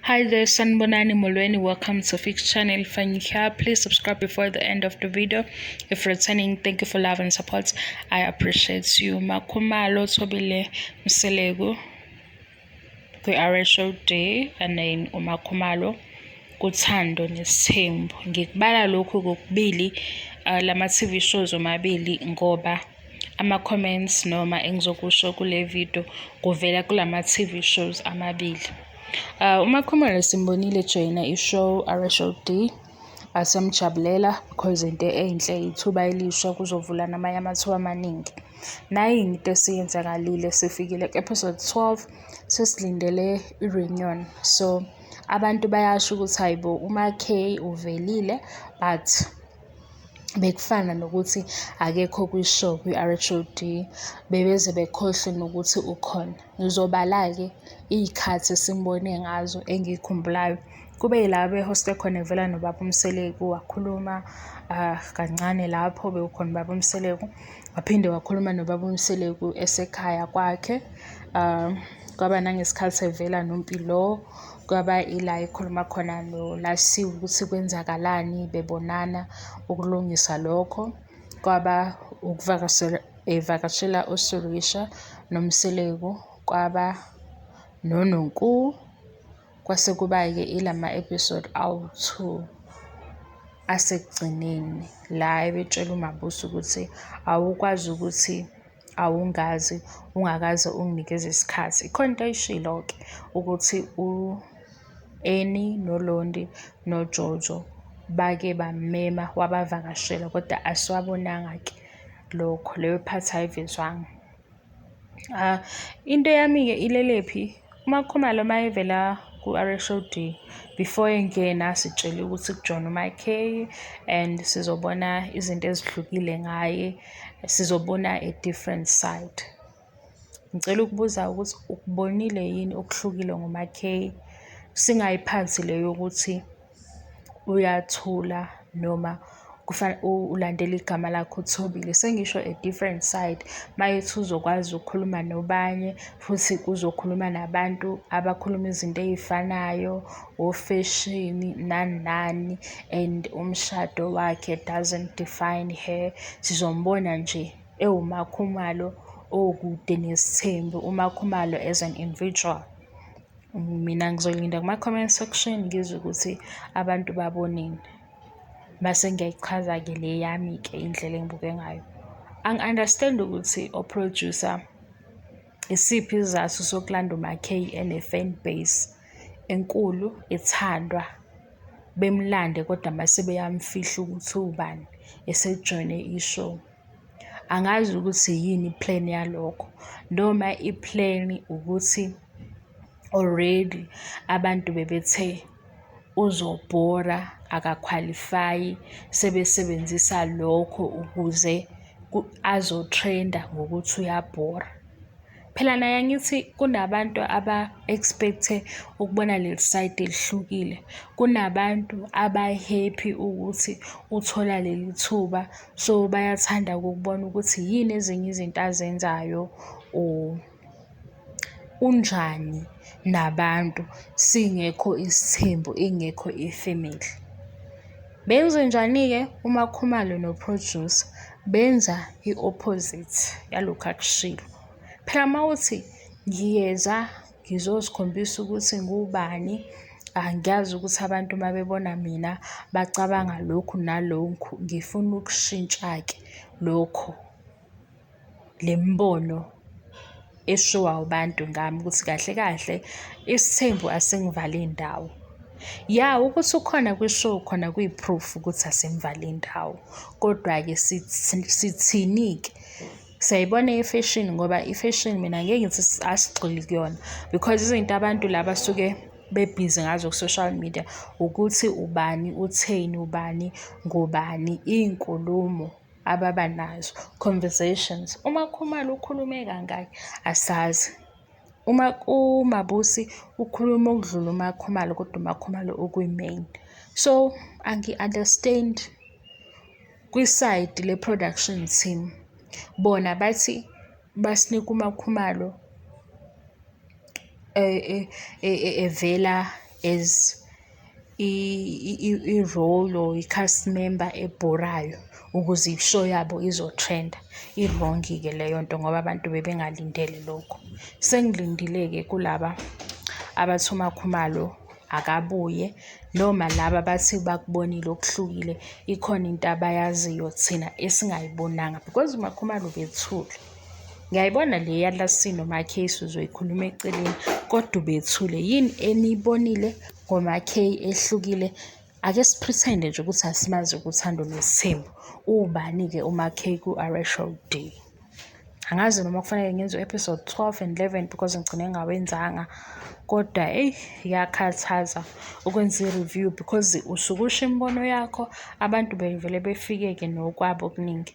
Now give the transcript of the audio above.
Hi there, Sanbonani Molweni. Welcome to Fix Channel. If you're here, please subscribe before the end of the video. If returning, thank you for love and support. I appreciate you. Makumalo Tobile Mselego. We are a show day and then Umakumalo. kuthando nesithembu ngikubala lokhu kokubili uh, lama TV shows omabili ngoba ama-comments noma engizokusho kule video kuvela kulama TV shows amabili. Uh, uMakhumalo simbonile joyina i-show RSO D asemjabulela because into enhle ithuba elisha kuzovula namanye amathuba amaningi. Nayi into esiyenzakalile sifikile ku-episode 12 sesilindele i-reunion so abantu bayasho ukuthi hayibo uMaKay uvelile but bekufana nokuthi akekho kwi-show kwi-RHOD bebeze bekhohlwe nokuthi ukhona. Ngizobala-ke iy'khathi esimbone ngazo engiy'khumbulayo. Kube yila behoste khona evela nobaba uMseleku wakhuluma ah, kancane lapho bewukhona ubaba uMseleku. Waphinde wakhuluma nobaba uMseleku esekhaya kwakhe. Ah, kwaba nangesikhathi evela noMpilo Kwaba ila ekhuluma khona noLasiwe ukuthi kwenzakalani bebonana ukulungisa lokho. Kwaba ukuvakashela evakashela uSurisha noMseleku kwaba noNonku kwase kuba-ke ilama episode awu-two asekugcineni la ebetshela uMabusi ukuthi awukwazi ukuthi awungazi ungakaze unginikeze isikhathi. Ikhona into ayishilo-ke ukuthi u-Eni noLondi noJojo bake bamema wabavakashela kodwa asiwabonanga-ke lokho, leyo phathi ayivezwanga. Into yami-ke ilelephi Uma uKhumalo uma evela ku-RSOD before engena sitshele ukuthi kujona uMK and sizobona izinto ezihlukile ngaye, sizobona a different side. Ngicela ukubuza ukuthi ukubonile yini okuhlukile ngoMaKay, singayiphansi le yokuthi. uyathula noma ulandela igama lakhe uThobile. Sengisho a different side uma ethi uzokwazi ukukhuluma nobanye futhi uzokhuluma nabantu abakhuluma izinto ey'fanayo ofeshini nani nani and umshado wakhe doesn't define her. Sizombona nje ewuMaKhumalo okude nesithembu, uMaKhumalo as an individual. Mina ngizolinda kuma-comment section ngizwe ukuthi abantu babonini. Mase ngiyayichaza-ke le yami-ke indlela engibuke ngayo. Angi-understand ukuthi o-producer isiphi isizathu sokulanda uMackay ene-fan base enkulu ethandwa bemlande kodwa mase beyamfihla ukuthi uwubani esejoyine i-show. Angazi ukuthi yini i-plan yalokho noma i-plan ukuthi already abantu bebethe uzobhora akakhwalifayi sebesebenzisa lokho ukuze azo-trend-a ngokuthi uyabhora. Phela naye angithi kunabantu aba-expect-e ukubona leli sayidi elihlukile. Kunabantu aba-happy ukuthi uthola leli thuba. So, bayathanda-ke ukubona ukuthi yini ezinye izinto azenzayo or unjani nabantu singekho isithembu, ingekho ifemeli. Benzenjani-ke uMaKhumalo noProducer? benza i-opposite yalokhu akushilo. Phela uma uthi ngiyeza ngizozikhombisa ukuthi ngubani angiyazi ukuthi abantu uma bebona mina bacabanga lokhu nalokhu ngifuna ukushintsha-ke lokho. le mibono eshiwa abantu ngami ukuthi kahle kahle isithembu asingivali indawo ya ukuthi ukhona kwishow khona kuyi-proof ukuthi asimvali indawo kodwa-ke sithini-ke siyayibona i-fashion ngoba i-fashion mina ngeke ngithi asigxili kuyona because izinto abantu laba suke bebhizi ngazo ku-social media ukuthi ubani utheni ubani ngobani iy'nkulumo ababa nazo, conversations. UMakhumalo ukhulume kangaki? Asazi. Uma uMabusi ukhuluma okudlula uMakhumalo kodwa uMakhumalo ukwi-main. So angi-understand kwisayidi le-production team. Bona bathi basinika uMakhumalo. evela as i-role or i-cast member ebhorayo ukuze i-show yabo izo-trend-a. I-wrong-ke leyo nto ngoba abantu bebengalindele lokho. Sengilindile-ke kulaba abathi uMakhumalo akabuye noma laba abathi bakubonile okuhlukile, ikhona into abayaziyo thina esingayibonanga because uMakhumalo ubethule. Ngiyayibona le yaLassie noMaCase uzoyikhuluma eceleni kodwa ubethule. Yini eniyibonile ngoMaCay ehlukile? Ake siphritende nje ukuthi asimazi kuthando nesithembu. Ubani-ke uMaCay ku-RA Show D? Angazi noma kufanele ngenze u-episode 12 and 11 because ngigcine ngawenzanga kodwa eyi yakhathaza ukwenza i-review because usuke usho imibono yakho abantu bevele befike-ke nokwabo okuningi.